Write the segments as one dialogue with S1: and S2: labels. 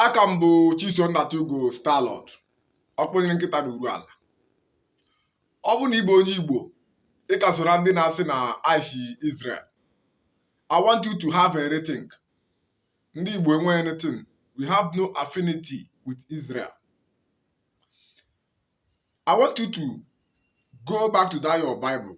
S1: aka m bụ Chiso Nnatugo Starlord ọkpụnyere nkịta na uru ala ọ bụrụ na ị bụ onye Igbo ị ka so na ndị na-asị na anyị shi Israel I want you to have a rethink ndị Igbo enweghị anything we have no affinity with Israel I want you to go back to that your Bible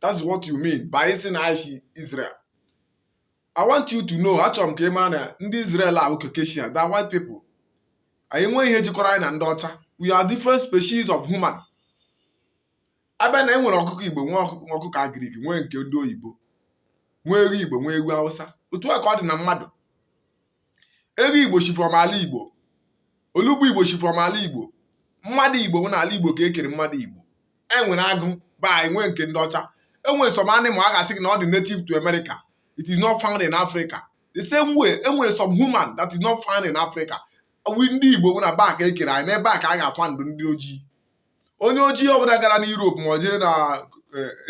S1: that's what you mean by ịsị na anyị si Israel I want you to know achọrọ m ka ị mara na ndị Israel wụ Caucasian they are white people anyị enweghị ihe jikọrọ anyị na ndị ọcha we are different species of human a bịa na e nwere ọkụkọ Igbo nwee ọkụkọ agrik nwee nke ndị oyibo nwee eghu Igbo nwee eghu Hausa otu a ka ọ dị na mmadụ eghu igbo shi from ala igbo olugbu igbo shi from ala igbo mmadụ igbo bụ na ala igbo ka e kere mmadụ igbo e nwere agụ ebe a nwee nke ndị ọcha enwere some animal a ga-asị gị na ọ dị native to America it is not found in Africa the same way enwere some human that is not found in Africa we ndị igbo bụ n'ebe a ka e kere anyị n'ebe a ka a ga-afind ndị ojii onye ojii ọbụla gara na Europe ma ọ jere na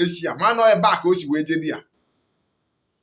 S1: Asia ma na ọ ebe a ka o si wee jee there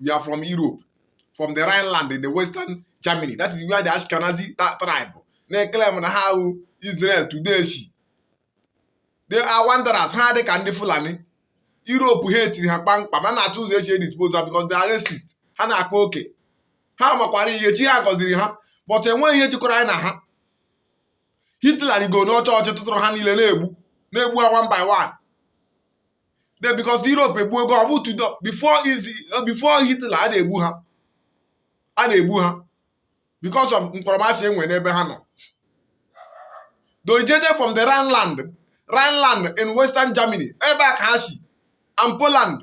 S1: we are from Europe from the Rhineland in the western Germany that is where the Ashkenazi tribe na-eclaim na ha wụ Israel today si they are wanderers ha dị ka ndị Fulani Europe hatiri ha kpamkpam a na-achọ ụzọ e shi edispose ha because they are racist ha na-akpa oke ha makwara ihe chi ha gọziri ha but enweghị ihe jikọrọ anyị na ha Hitler rigo n'oche ọchịchị tụtụrụ ha niile na-egbu na-egbu ha one by one de because Europe egbuo ego ọ bụ tudo before izi before Hitler a na-egbu ha a na-egbu ha because of mkpọrọmasị e nwere n'ebe ha nọ they originated from the Rhineland in western Germany ebe a ka ha si and Poland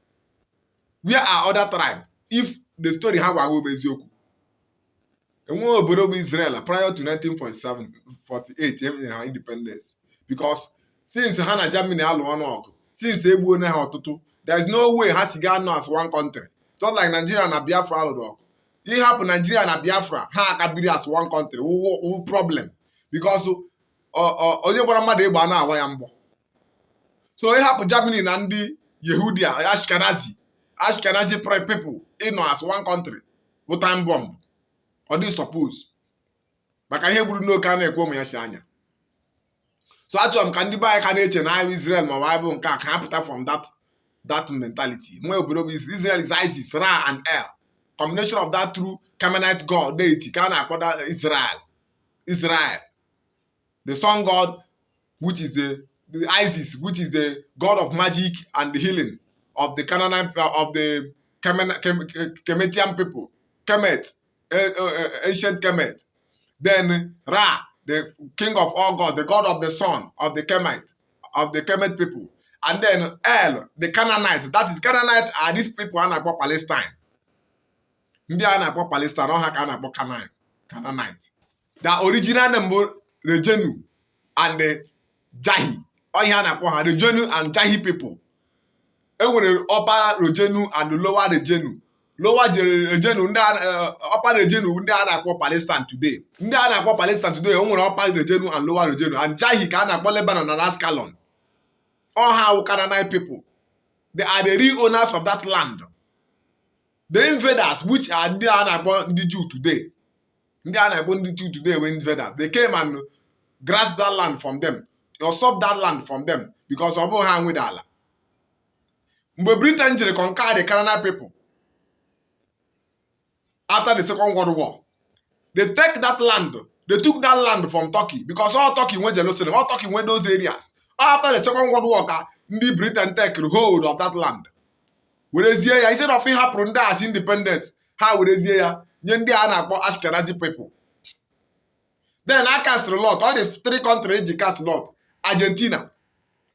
S1: where are other tribe if the story ha gwa bụ eziokwu enweghị obodo bụ Israel prior to 1947 48 e nyere ha independence because since ha na Germany alụọna ọgụ since egbuona ha ọtụtụ there is no way ha si ga-anọ as one country just like Nigeria na Biafra alụrụ ọgụ ịhapụ Nigeria na Biafra ha ka biri as one country wụ problem because onye gbara mmadụ egbe ana-awa ya mgbọ so ịhapụ Germany na ndị Yehudi a Ashkenazi Ashkenazi people ịnọ as one country bụ time bomb ọ dị suppose maka ihe gburu nne oke ana-ekwe ụmụ ya si anya so achọrọ m ka ndị be anyị ka na-eche na anyị si Israel ma ọ bụ anyị bụ nke a ka ha pụta from that mentality enweghị obodo bụ Israel is Isis Ra and El combination of that three Canaanite god deity ka a na-akpọ Israel Israel the sun god which is the, the Isis which is the god of magic and the healing of the Canaanite uh, of the Kemetian people Kemet eh, eh, eh, ancient Kemet then Ra the king of all gods the god of the sun of the Kemet of the Kemet people and then El the Canaanite that is Canaanite are these people a na-akpọ Palestine ndị a na-akpọ Palestine ọha ka a na-akpọ Canaan Canaanite the original name bụ rejenu and jahi ọ ihe a na-akpọ ha rejenu and jahi people enwere upper rejenu and lower rejenu lower rejenu upper rejenu ndị a na-akpọ palestine today ndị a na-akpọ palestine today o nwere upper rejenu and lower rejenu and jahi ka a na-akpọ lebanon and ascalon ọ ha wụ Canaanite people they are the real owners of that land the invaders which are ndị a na-akpọ ndị Jew today ndị a na-akpọ ndị Jew today were invaders they came and grasp that land from them usurp that land from them because ọ bụghị ha nwere ala mgbe Britain jiri conquer the Canaanite people after the second world war they take that land they took that land from Turkey because ọ Turkey nwe Jerusalem ọ Turkey nwe those areas after the second world war ka ndị Britain take hold of that land werezie ya instead of ịhapụrụ ndị as independence ha werezie ya nye ndị a na-akpọ Ashkenazi people then a kasịrị lot ọ dị three country eji cast lot Argentina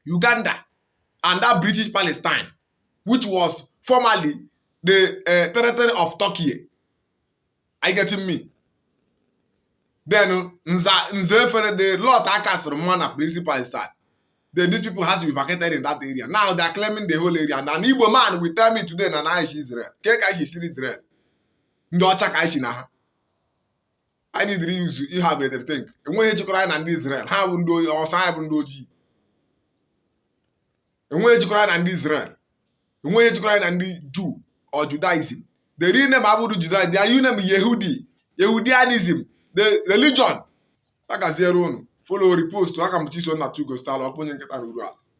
S1: Uganda and that British Palestine which was formerly the uh, territory of Turkey are you getting me then nza nza efere the lot a kasịrị ma na British Palestine then these people had to be vacated in that area now they are claiming the whole area and an igbo man will tell me today na na anyị si israel ke ka anyị si siri israel ndị ọcha ka anyị si na ha anyị need to have a rethink enweghị ihe jikọrọ anyị na ndị Israel ha bụ ndị ọcha anyị bụ ndị ojii enweghị ihe jikọrọ anyị na ndị Israel enweghị ihe jikọrọ anyị na ndị Jew or Judaism the real name abụrọ Judaism their real name Yehudi Yehudianism the religion agaziere unu follow repost aka m Chiso Nna Tugo Star ọ bụ onye nkịta ruru ala